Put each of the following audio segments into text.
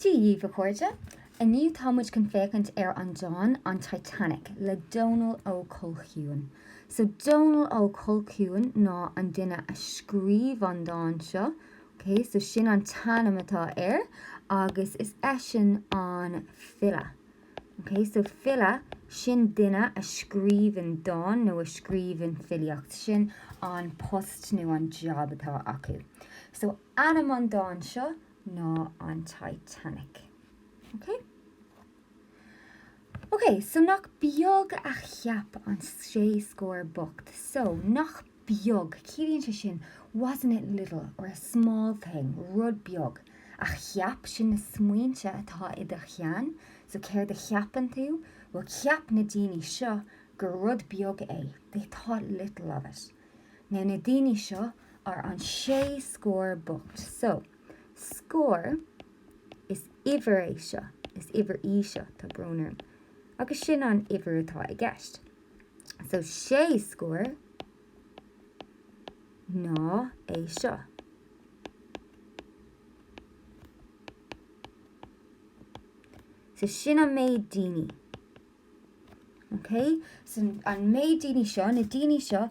Dia dhíbh, a chairde. Inniu tá muid chun féachaint ar an dán An Titanic le Dónall Ó Colchúin. So, Dónall Ó Colchúin ná an duine a scríobh an dán seo. So sin an t-ainm atá air agus is eisean an file. OK, so file, sin duine a scríobhann dán nó a scríobhann filíocht, sin an post nó an jab atá acu. So ainm an dáin seo ná an Titanic. OK? OK, so nach beag a cheap an sé scór bocht, so nach. beag, ciallaíonn sé sin wasn't it little or a small thing, rud beag, a cheap, sin na smaointe atá i do cheann, so céard a cheapann tú? Bhuel, cheap na daoine seo gur rud beag é, they thought little of it. Now, na daoine seo are an sé scór bocht, so, scór, is uimhir é seo, is uimhir í seo, tá brón orm, agus sin an uimhir atá i gceist. so sé scór ná é seo. So sin an méid daoine. Ok? So an méid daoine seo, na daoine seo,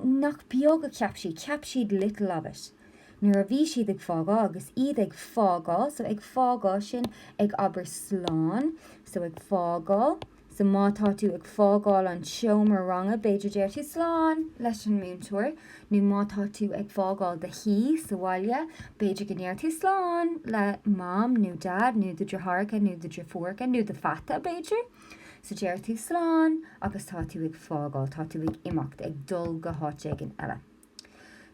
nach beag a ceap siad, ceap siad little of it. Nuair a bhí siad ag fágáil agus iad ag fágáil, so ag fágáil sin ag abair slán, so ag fágáil, So má tá tú ag fágáil an tseomra ranga, b'fhéidir, deir tú 'Slán! leis an múinteoir. Nó má tá tú ag fágáil do thí sa bhaile, b'fhéidir go ndeir tú 'Slán! le Mam nó Dad nó do dheartháireacha nó do dheirfiúracha, nó do pheata, b'fhéidir. So deir tú 'Slán! agus tá tú ag fágáil, tá tú ag imeacht, ag dul go háit éigin eile.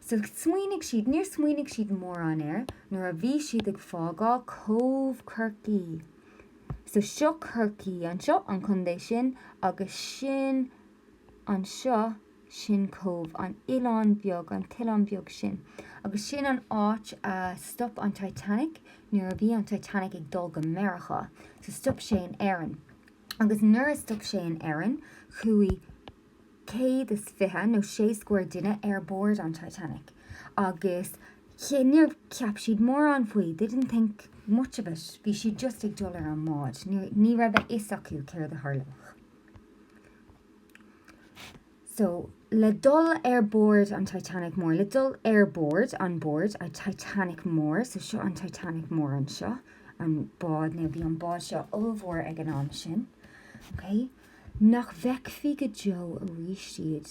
So smaoinigh siad, níor smaoinigh siad mórán air nuair a bhí siad ag fágáil Cóbh Chorcaí. So seo Corcaigh anseo, an contae sin, agus sin anseo, sin Cóbh, an oileán beag, an t-oileán beag sin. Agus sin an áit a stop an Titanic nuair a bhí an Titanic ag dul go Meiriceá. So stop sé in Éirinn. Agus nuair a stop sé in Éirinn, chuaigh. céad is fiche nó sé scór duine ar bord an Titanic agus níor cheap siad mórán faoi, they didn't think much of it, bhí siad just ag dul ar an mbád, ní raibh a fhios acu céard a tharlódh. So, le dul ar bord an Titanic mór, le dul ar bord, on board, an Titanic mór, so seo an Titanic mór anseo, an bád, nó bhí an bád seo ollmhór ag an am sin, okay? nach bhfeicfí go deo aríst iad,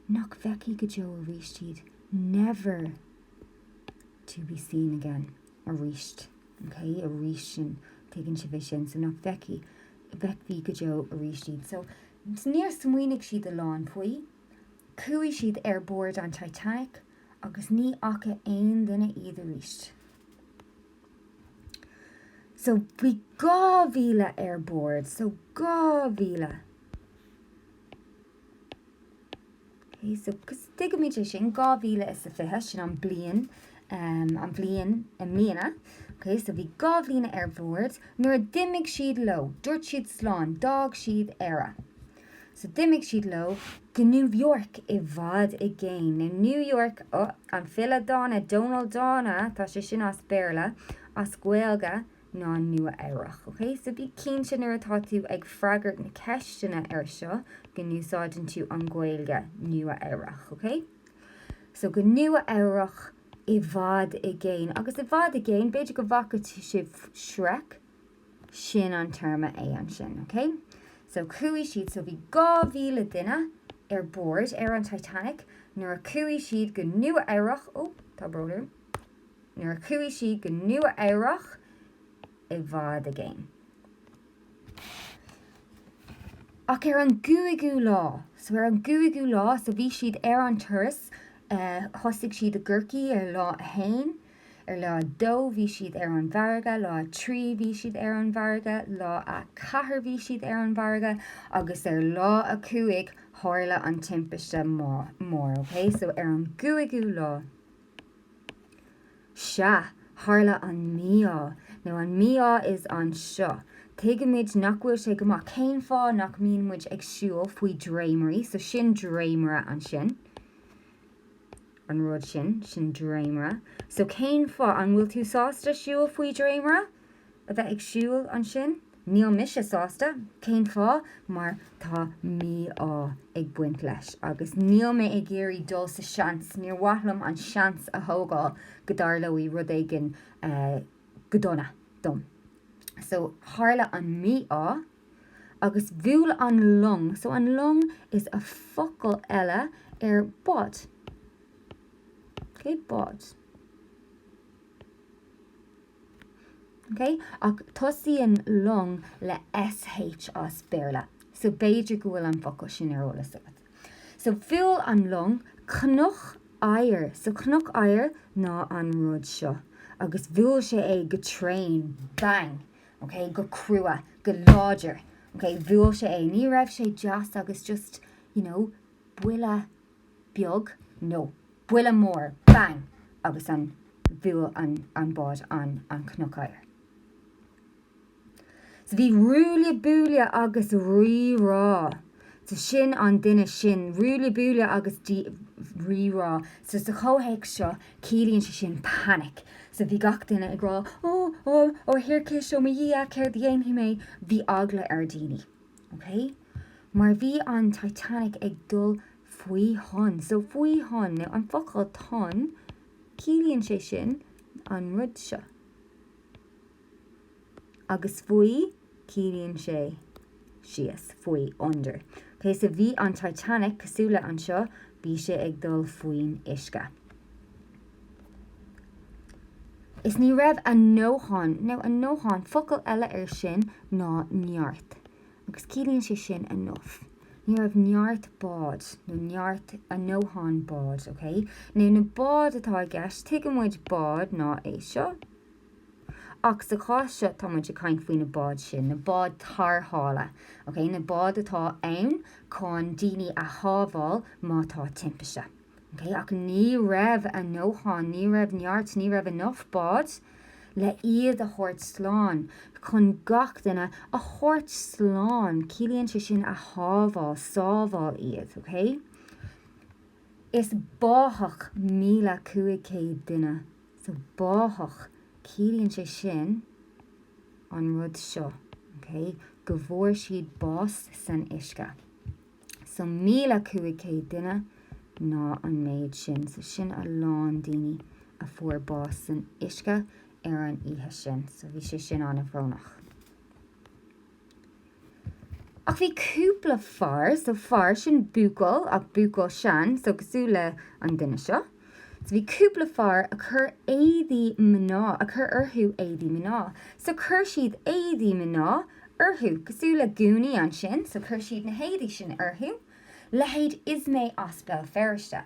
nach bhfeicfí go deo aríst iad never to be seen again aríst, OK, aríst sin, tuigeann sibh é sin, so nach bhfeicfí, bhfeicfí go deo aríst iad. So, níor smaoinigh siad a lán faoi, chuaigh siad ar bord an Titanic agus ní fhaca aon duine iad aríst. So bhí dhá mhíle ar bord, so dhá mhíle. Okay, so cos tuigimid é sin, dhá mhíle is a fiche, sin an bliain, um, an bhliain i mbliana. Okay, so bhí dhá mhíle ar bord, nuair a d'imigh siad leo, dúirt siad slán, d'fhág siad Éire. So d'imigh siad leo go New York, i bhfad i gcéin. Now New York, oh, an file dána, Dónall Dána, tá sé sin as Béarla, as Gaeilge ná Nua Eabhrach, ok? So bí cinnte nuair atá tú ag freagairt na ceisteanna ar seo go n-úsáideann tú an Ghaeilge Nua Eabhrach, ok? So go Nua Eabhrach, i bhfad i gcéin. Agus i bhfad i gcéin, b'fhéidir go bhfaca sibh Shrek? sin an téarma é ansin, ok? So chuaigh siad, so bhí 2,000 duine ar bord ar an Titanic nuair a chuaigh siad go Nua Eabhrach, oh, tá brón orm, nuair a chuaigh siad go Nua Eabhrach i bhfad i gcéin. Ach ar an gcúigiú lá, so ar an gcúigiú lá, so bhí siad ar an turas, thosaigh siad i gCorcaigh ar lá a haon, Ar lá a dó bhí siad ar an bhfarraige, lá a trí bhí siad ar an bhfarraige, lá a ceathair bhí siad ar an bhfarraige agus ar lá a cúig tharla an timpiste mhór. Ok, so ar an gcúigiú lá, sea, tharla an mí-ádh. Now an mí-ádh ansin, anseo. Tuigimid nach bhfuil sé go maith cén fáth nach mbíonn muid ag siúl faoi dréimirí, so sin dréimire ansin. an rud sin, sin dréimire, so cén fáth, an bhfuil tú sásta siúl faoi dréimire, a bheith ag siúl ansin? Níl mise sásta. Cén fáth? Mar tá mí-ádh ag baint leis agus níl mé ag iarraidh dul sa tseans, níor mhaith liom an seans a thógáil go dtarlóidh rud éigin go dona dom. So tharla an mí-ádh. Agus bhuail an long, so an long is ea focal eile ar bád. Ok, bád. Ok, ach tosaíonn long le SH as Béarla, so b'fhéidir go bhfuil an focal sin ar eolas agat. So bhuail an long cnoc oighir, so cnoc oighir ná an rud seo, agus bhuail sé é go tréan, bang, OK, go crua, go láidir. OK, bhuail sé é. Ní raibh sé deas agus just, you know, buille beag, nó buille mór, bang, agus an, bhuail an, an bád an, an cnoc oighir. So bhí ruaille buaille agus rí rá. So sin an duine sin. Ruaille buaille agus rí rá. So sa chomhthéacs seo, ciallaíonn sé sin panic. So bhí gach duine ag rá, Ó, ó, ó a thiarcais, ó mo Dhia, céard a dhéanfaidh mé? Bhí eagla ar dhaoine. Ok? Mar bhí an Titanic ag dul faoi thonn. So faoi thonn. Now an focal tonn, ciallaíonn sé sin an rud seo. agus faoi, ciallaíonn sé síos, faoi under. So bhí an Titanic, cosúil le anseo, bhí sé ag dul faoin uisce. Is ní raibh a ndóthain, nó a ndóthain, focal eile air sin ná neart, agus ciallaíonn sé sin enough. Ní raibh neart bád, nó neart, a ndóthain bád, OK? Now, na báid atá i gceist, tuigeann muid bád ná é seo. Ach sa chás seo, tá muid ag caint faoi na báid sin, na báid tarrthála, okay, na báid atá ann chun daoine a shábháil má tá timpiste. Okay? Ach ní raibh a ndóthain, ní raibh neart, ní raibh enough bád le iad a thabhairt slán, chun gach duine a thabhairt slán, ciallaíonn sé sin a shábháil, sábháil iad, okay? Is báthadh míle cúig céad duine So báthadh, ciallaíonn sé sin an rud seo, go bhfuair siad bás san uisce. So míle cúig céad duine ná an méid sin. So sin a lán daoine a fuair bás san uisce ar an oíche sin. So bhí sé sin an-bhrónach. Ach bhí cúpla fear, so fear sin buachaill ach buachaill sean, so cosúil le an duine seo, so bhí cúpla fear a chuir éadaí mná, a chuir orthu éadaí mná, so chuir siad éadaí mná orthu, cosúil le gúnaí ansin, so chuir siad na héadaí sin orthu, leithéid Ismay as Béal Feirste.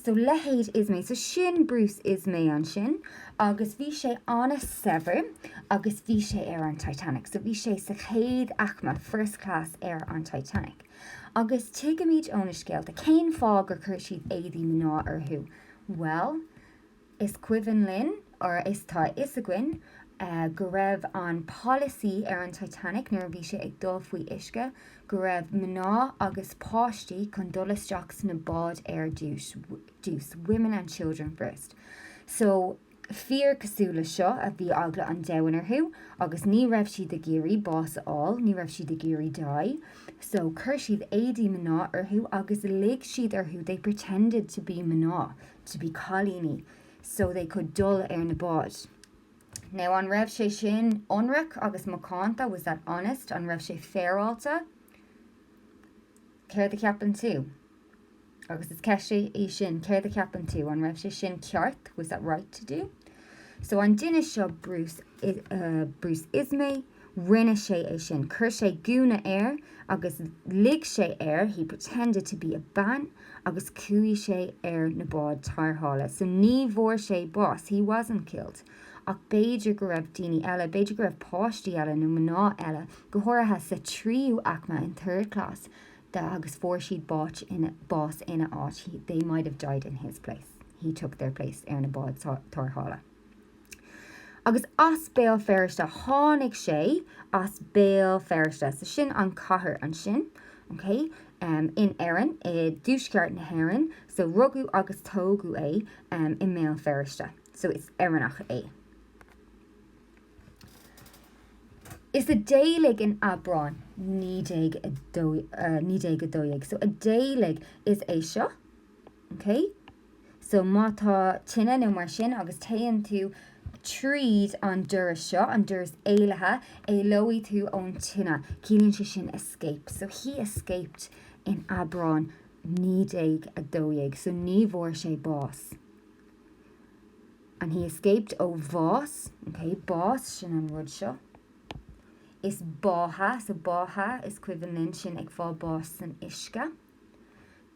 So leithéid Ismay. So sin Bruce Ismay ansin agus bhí sé an-saibhir agus bhí sé ar an Titanic. So bhí sé sa chéad aicme, first class, ar an Titanic. Agus tuigimid ó na scéalta cén fáth gur chuir siad éadaí mná orthu. Bhuel, Is cuimhin linn, or is tá a fhios againn, go raibh an polasaí ar an Titanic nuair a bhí sé ag dul faoi uisce go raibh mná agus páistí chun dul isteach sna báid ar dtús, women and children first. So, fir cosúil le seo a bhí eagla an domhain orthu agus ní raibh siad ag iarraidh bás a fháil, ní raibh siad ag iarraidh die, so chuir siad éadaí mná orthu agus lig siad orthu, they pretended to be mná. to be cailíní so they could dul ar na báid. Now an raibh sé sin ionraic agus macánta? Was that honest? An raibh sé féaráilte? Céard a cheapann tú? Agus is ceist í sin, céard a cheapann tú? An raibh sé sin ceart? Was that right to do? So an duine seo, Bruce, uh, Bruce Ismay, Rinne sé é sin, chuir sé gúna air agus lig sé air, he pretended to be a bean, agus chuaigh sé ar na báid tarrthála. So ní bhfuair sé bás, he wasn't killed. Ach b'fhéidir go raibh daoine eile, b'fhéidir go raibh páistí eile nó mná eile, go háirithe sa tríú aicme, in third class, that, agus fuair siad báis ina, bás ina áit, he, they might have died in his place, he took their place, ar na báid tarrthála. Agus as Béal Feirste a tháinig sé, as Béal Feirste. So sin an chathair ansin, OK? In Éirinn, i dtuaisceart na hÉireann. So rugadh agus tógadh é i mBéal Feirste. So is Éireannach é. Is a d'éalaigh in Aibreán 1912. So a d'éalaigh is é seo, OK? So má tá tine nó mar sin agus téann tú tríd an doras seo, an doras éalaithe, éalóidh tú ón tine. Ciallaíonn sé sin escape. So he escaped in Aibreán 1912. So ní bhfuair sé bás. And he escaped ó bhás, okay, bás, sin an rud seo. Is báthadh, so báthadh is cuimhin linn sin ag fáil báis san uisce.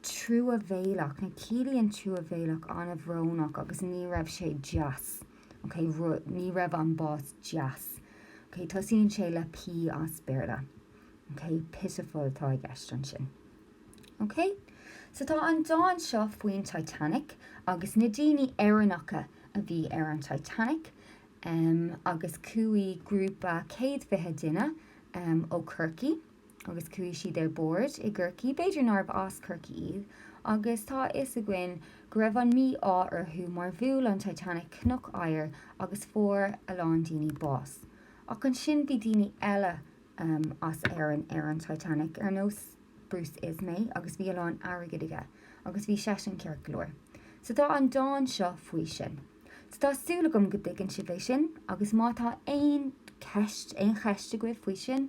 truamhéalach, nó ciallaíonn truamhéalach an-bhrónach agus ní raibh sé deas, ok? rud, ní raibh an bás deas, ok? Tosaíonn sé le P as Béarla, ok? Pitiful atá i gceist ansin. Ok? So tá an dán seo faoin Titanic agus na daoine Éireannacha a bhí ar an Titanic em agus chuaigh grúpa céad fiche duine em ó Chorcaigh, agus chuaigh siad ar bord i gCorcaigh, b'fhéidir nárbh as Corcaigh iad, agus tá a fhios againn go raibh an mí-ádh orthu mar bhuail an Titanic cnoc oighir agus fuair a lán daoine bás. Ach ansin bhí daoine eile as Éirinn ar an Titanic, ar nós Bruce Ismay, agus bhí a lán airgid aige, agus bhí seisean ceart go leor. So tá an dán seo faoi sin. So tá súil agam go dtuigeann sibh é sin, agus má tá aon cheist, aon cheist agaibh faoi sin,